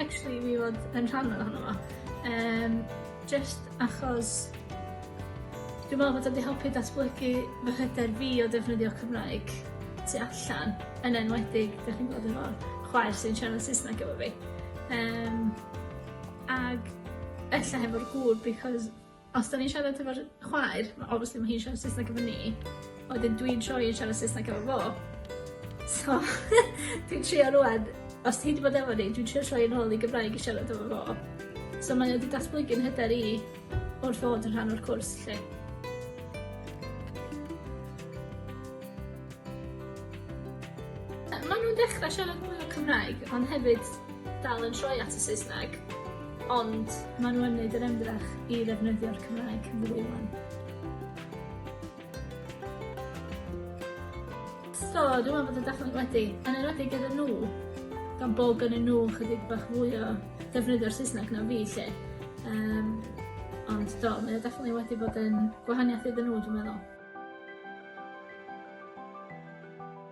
actually fi fod yn rhan ohono fo yym jyst achos dwi me'wl bod o 'di helpu datblygu fy hyder fi o defnyddio Cymraeg tu allan yn enwedig 'dych chi'n gweld efo chwaer sy'n siarad Saesneg efo fi yym ag ella hefo'r gŵr because Os da ni'n siarad efo'r chwaer, mae obviously mae hi'n siarad Saesneg efo ni, a wedyn dwi'n troi yn siarad Saesneg efo fo. So, dwi'n trio rwan, os ti wedi bod efo ni, dwi'n trio troi yn ôl i Gymraeg i siarad efo fo. So mae wedi datblygu'n hyder i wrth fod yn rhan o'r cwrs lle. Mae nhw'n dechrau siarad mwy o Cymraeg, ond hefyd dal yn troi at y Saesneg, ond maen nhw yn neud yr ymdrech i ddefnyddio'r Cymraeg yn fwy wan. So, dwi'n meddwl bod y dathliad wedi, yn enwedig gyda nhw, gan bod gyda nhw chydig bach fwy o defnyddio'r Saesneg na fi lle. Um, ond do, mae o definitely wedi bod yn gwahaniaeth iddyn nhw, dwi'n meddwl.